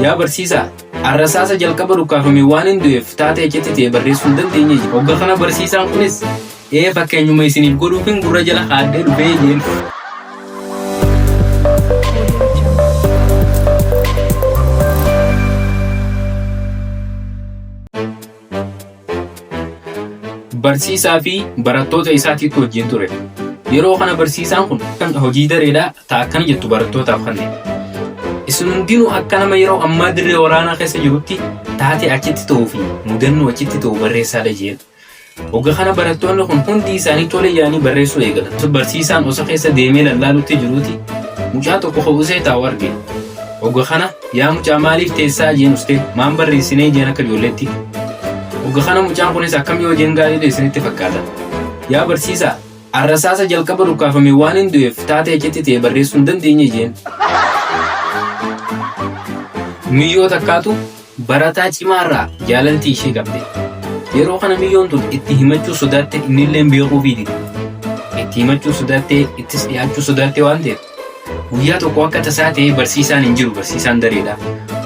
Yaa barsiisaa, arrasaasa jalqaba dhukkaafame waan hin du'eef taatee achitti ta'e barreessuu hin dandeenye. Hogga kana barsiisaan kunis ee fakkeenyuma isiniif godhuufin gurra jala haadhee dhufee jeen. Barsiisaa fi barattoota isaatiitu wajjin ture. Yeroo kana barsiisaan kun kan hojii dareedhaa ta akkana jettu barattootaaf kanne. Isin hundinuu akka nama yeroo ammaa dirree waraanaa keessa jirutti taatee achitti ta'uu fi mudannoo achitti ta'u barreessaa dha jedhu. Oga kana barattoonni kun hundi isaanii tole yaanii barreessuu eegalan. Barsiisaan osa keessa deemee lallaalutti jiruuti mucaa tokko ho'usee taa'u arge. Ogga kana yaa mucaa maaliif teessaa jeen ustee maan barreessinee jeen akka ijoolleetti. Ogga kana mucaan kunis akkam yoo jeen gaariidha isinitti fakkaata. Yaa barsiisaa arrasaasa jalqaba dhukkaafame waan hin du'eef taatee achitti ta'e barreessuu hin dandeenye jeen. Nuyyoo takkaatu Barataa cimaa irraa jaalalti ishee qabde. Yeroo kana miyyoon tun itti himachuu sodaatte innilleen beekuufii dide. Itti himachuu sodaattee ittis dhiyaachuu sodaatte waan ta'eef guyyaa tokko akka tasaa ta'ee barsiisaan hin jiru barsiisaan dareedha.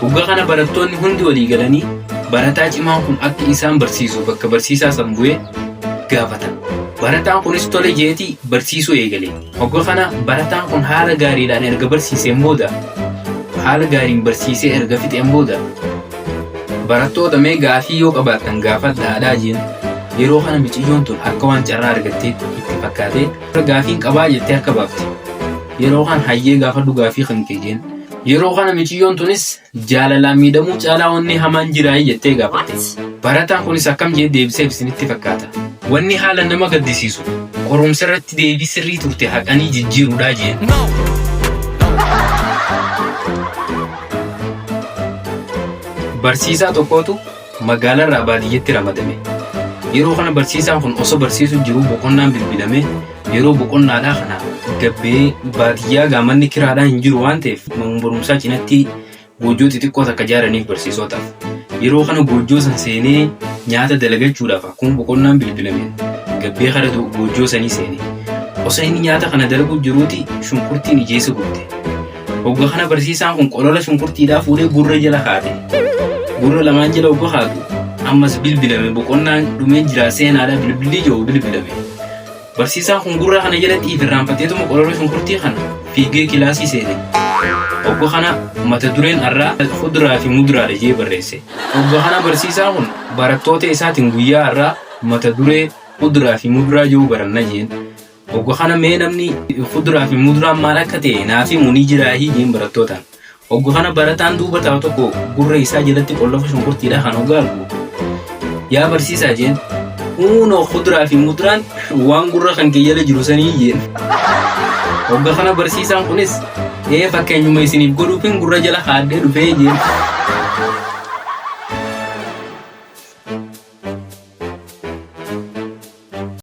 Hoggaa kana barattoonni hundi walii galanii barataa cimaan kun akka isaan barsiisu bakka barsiisaa san bu'ee gaafatan. Barataan kunis tole jeetii barsiisuu eegale. Hogga kana barataan kun haala gaariidhaan erga barsiiseen booda haala gaariin barsiisee erga fixeen booda barattoota mee gaafii yoo qabaattan gaafadha aadaa jeen yeroo kana miciyyoon tun akka waan carraa argattee itti fakkaatee gaafiin qabaa jettee harka baafte yeroo kana hayyee gaafadhu gaafii kan kee jeen yeroo kana miciyyoon tunis Jaalalaan miidhamuu caalaa wanni hamaan jiraayii jettee gaafatte. Barataan kunis akkam jedhee deebiseef isinitti fakkaata? Wanni haalan nama gaddisiisu, qorumsa irratti deebii sirrii turte haqanii jijjiiruudha jeen. Barsiisaa tokkootu magaalarraa baadiyyatti ramadame. Yeroo kana barsiisaan kun osoo barsiisu jiru boqonnaan bilbilame yeroo boqonnaadhaa kana gabbee baadiyyaa gaamanni kiraadhaa hin jiru waan ta'eef manneen barumsaa cinatti goojjoo xixiqqoo takka ijaaraniif barsiisotaaf. Yeroo kana goojjoo san seenee nyaata dalagachuudhaaf akkuma boqonnaan bilbilame gabbee kara goojjoo sanii seene. Osoo inni nyaata kana dalaguu jiruuti shunkurtiin ijeessa gubde. Hogga kana barsiisaan kun qolola shunkurtiidhaa fuudhee gurra jala kaa'ate. Gurra lamaan jala hogga kaa'atu ammas bilbilame boqonnaan dhumee jira seenaadha bilbilli jiru bilbilame. Barsiisaan kun gurra kana jalatti ifirraanfateetuma qolola shunkurtii kana fiigee kilaasii seene. Hogga kana mata dureen har'aa fuduraa fi muduraadha jee barreesse. Hogga kana barsiisaan kun barattoota isaatiin guyyaa har'aa mata duree fuduraa fi muduraa jiru baranna jeen. Ogga kana mee namni kuduraa fi muduraan maal akka ta'e naaf himu ni jiraa hiyyeen barattootaan. Ogga kana barataan duuba taa'u tokko gurra isaa jalatti qollafa shunkurtiidha kan ogga argu. Yaa barsiisaa jeen huunoo kuduraa fi muduraan waan gurra kan kee jala jiru sanii jeen. Ogga kana barsiisaan kunis ee fakkeenyuma isiniif godhuufin gurra jala haadhee dhufee jeen.